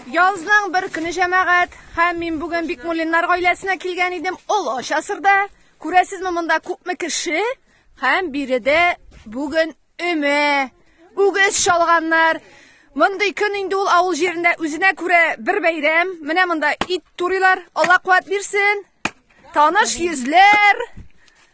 Язның бер көне җәмәгать һәм мин бүген Бикмуллиннар гаиләсенә килгән идем. Олы часырда күрәсезме монда күпме кеше һәм биредә бүген өмә, үгез шалганнар. Мондый көн инде ул авыл җирендә үзенә күрә бер бәйрәм. Менә монда ит турыйлар. Алла куәт бирсен. Таныш йөзләр.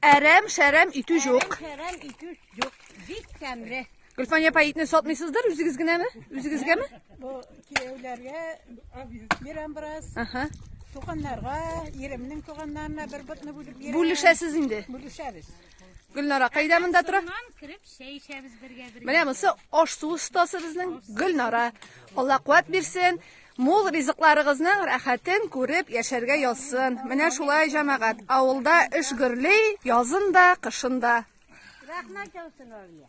Әрәм, шәрәм итү җук. Шәрәм итү җук. Бик тәмле. Гөлфания апа итне сатмыйсыздыр, үзегез генәме? Үзегезгәме? Бу кияүләргә бирәм бераз. Аха. Туганнарга, иремнең туганнарына бер ботны бүлеп бирәм. Бүлешәсез инде. Бүлешәбез. Гөлнара кайда монда тора? Моннан кереп чәй эчәбез бергә бергә. Менә монысы аш су остасы безнең Гөлнара. Алла куәт бирсен. Мул ризыкларыгызның рәхәтен күреп яшәргә язсын. Менә шулай, җәмәгать, авылда эш гөрли, язын да, кышын да. Рәхмәт яусын, Алия.